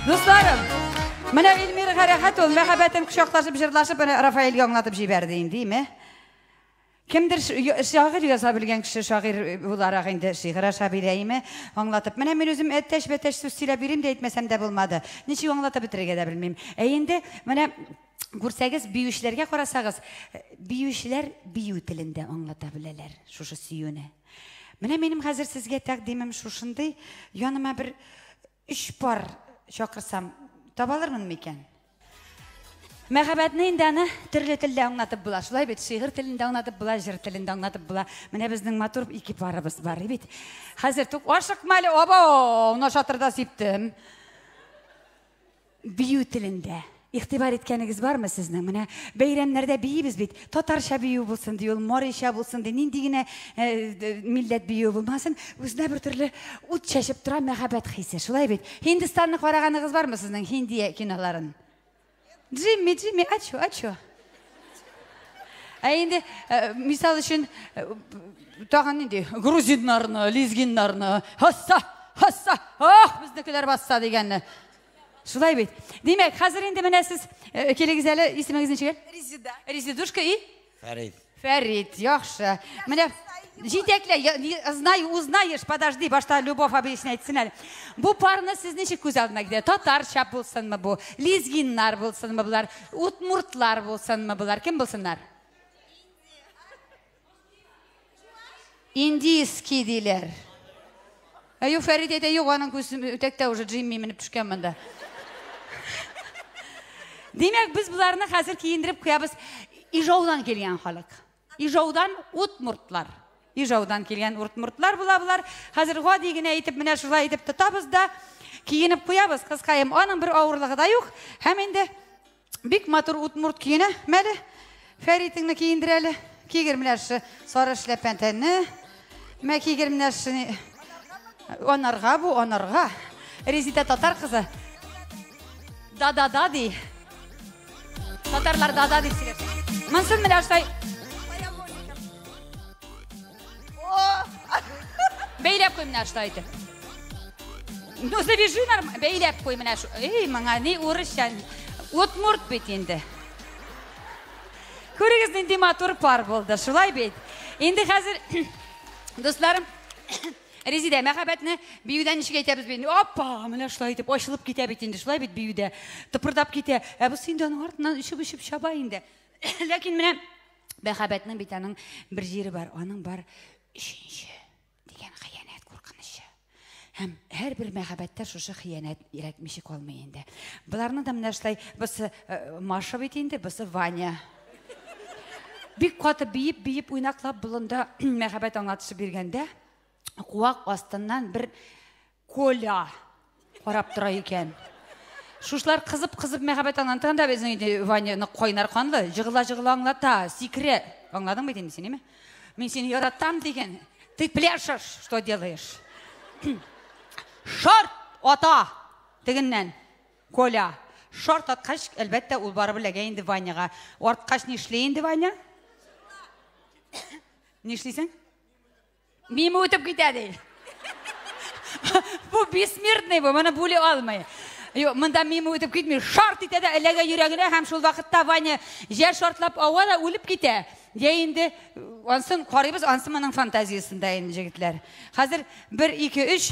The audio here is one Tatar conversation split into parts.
Дусларым, менә Эльмира Гарәхәт ул мәхәббәтен кочаклашып, җырлашып, менә Рафаэльгә аңлатып җибәрде инде, име? Кемдер шагыйрь яза белгән кеше шагыйрь буларак инде шигырь аша бирәйме, аңлатып. Менә мин үзем әтәч-бәтәч сүз сөйләп йөрим дә әйтмәсәм дә булмады. Ничек аңлатып бетерергә дә белмим. Ә инде менә күрсәгез, биючеләргә карасагыз, биючеләр бию телендә аңлата беләләр шушы сөюне. Менә минем хәзер сезгә тәкъдимем шушындый, яныма бер өч пар чакырсам, табалырмын микән? Мәхәббәтне инде аны төрле телдә аңлатып була. Шулай бит, шигырь телендә аңлатып була, җыр телендә аңлатып була. Менә безнең матур ике парыбыз бар бит. Хәзер тук ашыкма әле, абау, на шатырда сиптем. Бию телендә игътибар иткәнегез бармы сезнең? Менә бәйрәмнәрдә биибез бит. Татарча бию булсын ди, ул марича булсын ди, нинди генә э, милләт биюе булмасын, үзенә бер төрле ут чәчеп тора мәхәббәт хисе. Шулай бит. Һиндстанны караганыгыз бармы сезнең Хинди киноларын? Джимми, Джимми, ачу, ачу. Ә инде э, мисал өчен э, тагын нинди грузиннарны, лезгиннарны, хасса, хасса, ах, безнекеләр басса дигәнне. Шулай бит. Димәк, хәзер инде менә сез э, килегез әле, исемегез ничек? Резида. Резидушка и Фәрит. Фәрит, яхшы. Менә җитәклә, я- не- знай, узнаешь, подожди, башта Любовь объяснять әйтсен әле. Бу парны сез ничек күз алдына китерә? Татарча булсынмы бу? Лезгиннар булсынмы болар? Утмуртлар булсынмы болар? Кем булсыннар? Индийский диләр. Әю Фәрит әйтә, юк, аның күзем үтәктә уже Джимми менеп төшкән монда. Димәк, без боларны хәзер киендереп куябыз. Ижаудан килгән халык. Ижаудан утмуртлар. Ижаудан килгән уртмуртлар була болар. Хәзер гади генә итеп менә шулай итеп тотабыз да киенеп куябыз кызкаем. Аның бер авырлыгы да юк. Һәм инде Бик матур утмурт киенә. Мәле, Фәритеңне киендер әле. Кигер менә шы сары эшләпән тәнне. Мә кигер менә шы анарга бу, анарга. Резида татар кызы. Да-да-да ди. Татарлар да-да дип сөйләп. Монсын менә шулай Бәйләп куй менә шулай итеп. Ну, завяжи нормально. Бәйләп куй менә шу. Эй, моңа ни урысча. Удмурт бит инде. Күрегез, нинди матур пар булды. Шулай бит. Инде хәзер, дусларым, Резидә, мәхәббәтне биюдән ничек әйтәбез бит? Апа, менә шулай итеп ачылып китә бит инде, шулай бит биюдә. Тыпырдап китә. Ә бусы инде аның артыннан өшеп-өшеп чаба инде. Ләкин менә Мәхәббәтнең бит аның бер җире бар, аның бар өченче дигән хыянәт куркынычы. Һәм һәр бер мәхәббәттә шушы хыянәт ирәтмичек калмый инде. Боларны да менә шулай бусы э, Маша бит инде, бусы Ваня. Бик каты биеп, биеп уйнаклап болында мәхәббәт аңлатышы биргәндә, куак астыннан бер Коля карап тора икән. Шушлар кызып-кызып мәхәббәт аңланып торганда безнең өйдә Ваня нык кайнар канлы, җыгыла-җыгыла аңлата, сикерә. Аңладыңмы дим син, име? Мин сине яратам дигән. Ты пляшешь, что делаешь? Шарт ата! Тегеннән. Коля. Шарт аткач, әлбәттә, ул барып эләгә инде Ваняга. Арткач нишли инде Ваня? Нишлисең? Мимо үтеп китә ди. Бу бессмертный бу, моны бүли алмый. Юк, монда мимо үтеп китми. Шарт итә дә эләгә йөрәгенә һәм шул вакытта Ваня җә шартлап ава да үлеп китә. Я инде ансын карыйбыз, ансы моның фантазиясендә инде җегетләр. Хәзер 1 2 3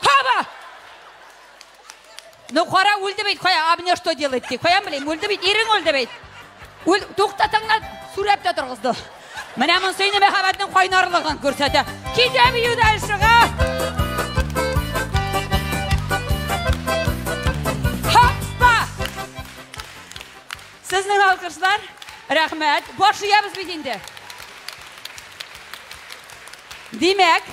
Кава! Ну, кара, үлде бит, кая, а мне что делать, ди. Кая, блин, үлде бит, ирең үлде бит. Үл, туктатыңна, сүрәп тә торгызды. Менә монсы инде мәхәббәтнең кайнарлыгын күрсәтә. Китә бию дальшега. Хаппа! Сезнең алкышлар, рәхмәт. Баш иябез бит инде. Димәк,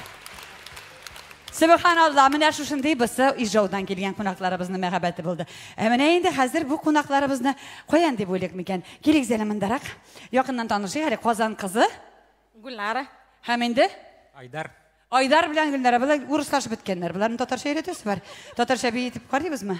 Сөбханалла, менә шушындый бусы Ижаудан килгән кунакларыбызның мәхәббәте булды. Ә менә инде хәзер бу кунакларыбызны каян дип уйлыйк микән? Килегез әле мондарак. Якыннан танышыйк әле Казан кызы. Гүлнара. Һәм инде? Айдар. Айдар белән Гүлнара, болар урыслашып беткәннәр. Боларны татарча өйрәтәсе бар. Татарча бии итеп карыйбызмы?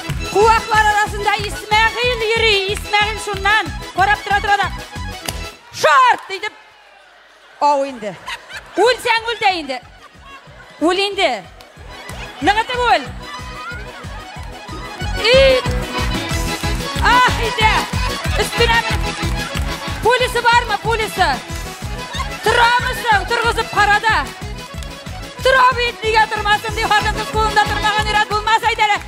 Куаклар арасында Исмәгыйль йөри. Исмәгыйль шуннан карап тора тора да. Шарт! Дидеп. Ау инде. Үлсәң үл дә инде. Үл инде. Ныгытып үл. И! Ах, иде. Өстенә Пулисы бармы, пулисы? Торамысың, торгызып карада. Тора бит, нигә тормасын, ди хатын-кыз кулында тормаган ират булмас әйтәләр.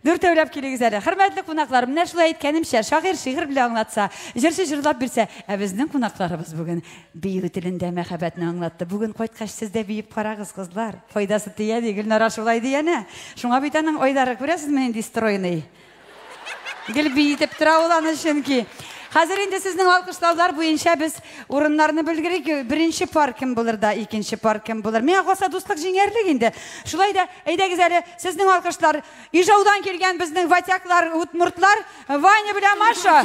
Дүртәүләп килегез әле. Хөрмәтле кунаклар, менә шулай әйткәнемчә, шагыйрь шигырь белән аңлатса, җырчы җырлап бирсә, ә безнең кунакларыбыз бүген бию телендә мәхәббәтне аңлатты. Бүген кайткач сез дә биеп карагыз, кызлар. Файдасы тия ди, Гөлнара шулай ди әнә. Шуңа бит аның Айдары күрәсезме нинди стройный. Гел биетеп тора ул аны чөнки. Хәзер инде сезнең алкышлаулар буенча без Урыннарны белгерик, беренче пар кем булыр да, икенче пар кем булыр. Миңа калса дуслык җиңәрлек инде. Шулай да әйдәгез әле сезнең алкышлар Ижаудан килгән безнең ватяклар, утмуртлар Ваня белән Маша.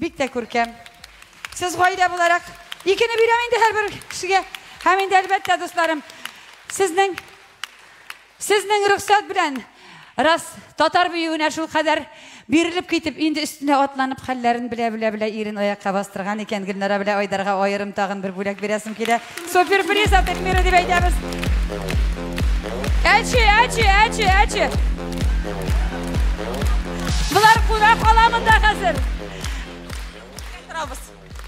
Бик тә күркәм. Сез гаилә буларак икене бирәм инде һәрбер кешегә. Һәм инде әлбәттә, дусларым, сезнең сезнең рөхсәт белән Раз татар биюенә шул кадәр бирелеп китеп, инде өстенә атланып хәлләрен белә-белә-белә ирен аякка бастырган икән, Гөлнара белә Айдарга аерым тагын бер бүләк бирәсем килә. Суперприз атып миры дип әйтәбез. Әче, әче, әче, әче. Болар куна кала монда хәзер. Торабыз.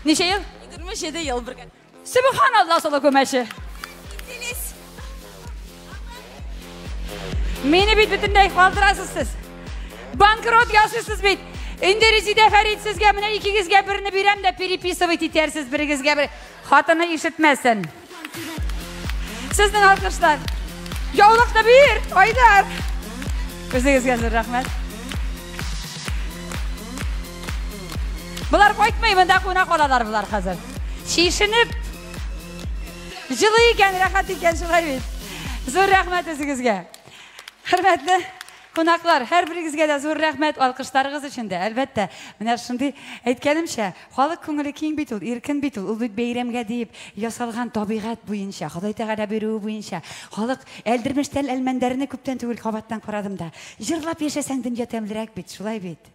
Ничә ел? 27 ел бергә. Субханалла солы күмәче. Мені бит бөтенләй калдырасыз сез. Банкрот ясыйсыз бит. Инде Резидә Фәрит сезгә менә икегезгә берне бирәм дә переписывать итәрсез берегезгә бер. Хатыны ишетмәсен. Сезнең алкышлар. Яулыкны бир, Айдар. Үзегезгә зур рәхмәт. Болар кайтмый, монда куна калалар болар хәзер. Чишенеп. Җылы икән, рәхәт икән шулай бит. Зур рәхмәт үзегезгә. Хөрмәтле Кунаклар, һәрберегезгә дә зур рәхмәт, алкышларыгыз өчен дә, әлбәттә. Менә шундый, әйткәнемчә, халык күңеле киң бит ул, иркен бит ул. Ул бит бәйрәмгә диеп ясалган, табигать буенча, Ходай Тәгалә боеруы буенча. Халык, Әлдермештән Әлмәндәрне күптән түгел кабаттан карадым да. Җырлап яшәсәң дөнья тәмлерәк бит, шулай бит?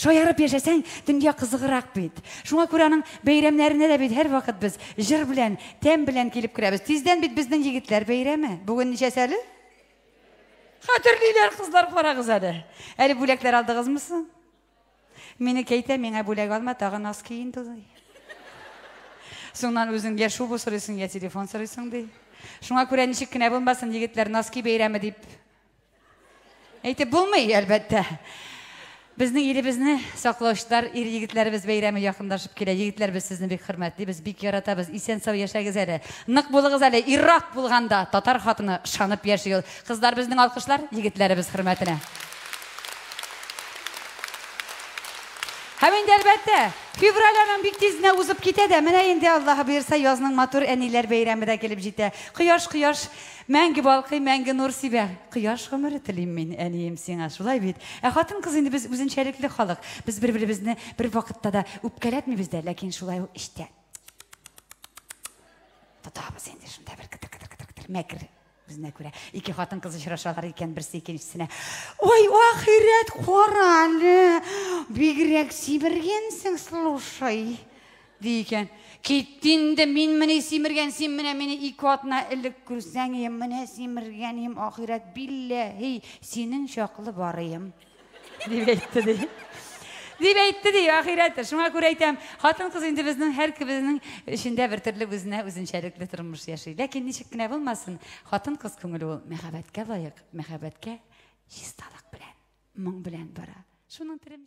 Шаярып яшәсәң, дөнья кызыграк бит. Шуңа күрә аның бәйрәмнәренә дә бит һәрвакыт без җыр белән, тәм белән килеп керәбез. Тиздән бит безнең егетләр бәйрәме. Бүген ничәсе әле? Хәтерлиләр кызлар, карагыз әле. Әле бүләкләр алдыгызмы соң? Мине кәйтә, миңа бүләк алма, тагы нос ки инде. Соңнан үзең я шубу сорыйсың, я телефон сорыйсың ди. Шуңа күрә ничек кенә булмасын, егетләр носки бәйрәме дип Әйтеп булмый, әлбәттә. Безнең илебезне саклаучылар ир егетләребез бәйрәме якындашып килә. Егетләр без сезне бик хөрмәтлибез, бик яратабыз. Исән сау яшәгез әле. Нык булыгыз әле. Иррак булганда татар хатыны шанып яши ул. Кызлар безнең алкышлар егетләребез хөрмәтенә. Һәм инде әлбәттә, февраль аның бик тизенә узып китә дә, менә инде Аллаһы боерса, язның матур әниләр бәйрәме дә килеп җитә. Кояш, кояш, Мәңге балкый, мәңге нур сибә. Кояш гомере телим мин, әнием, сиңа. Шулай бит? Ә хатын-кыз инде без үзенчәлекле халык. Без бер-беребезне бервакытта да үпкәләтмибез дә, ләкин шулай ук эчтә тотабыз инде шунда бер кытыр-кытыр-кытыр-кытыр мәкер үзенә күрә. Ике хатын-кыз очрашалар икән, берсе икенчесенә, "Ой, ахирәт, кара әле! Бигрәк сибергәнсең, слушай!" Ди икән. Кит инде, мин мени симергән, син менә мине ике атна элек күрсәң, ем, менә симергән, ем, ахирәт, билләһи, синең чаклы барыем. Дип әйтте, ди. Дип әйтте, ди, ахирәт. Шуңа күрә әйтәм, хатын-кыз инде безнең һәр кебезнең эчендә бер төрле үзенә үзенчәлекле тормыш яши. Ләкин ничек кенә булмасын, хатын-кыз күңеле ул мәхәббәткә лаек, мәхәббәткә чисталык белән, моң белән бара. Шуның телем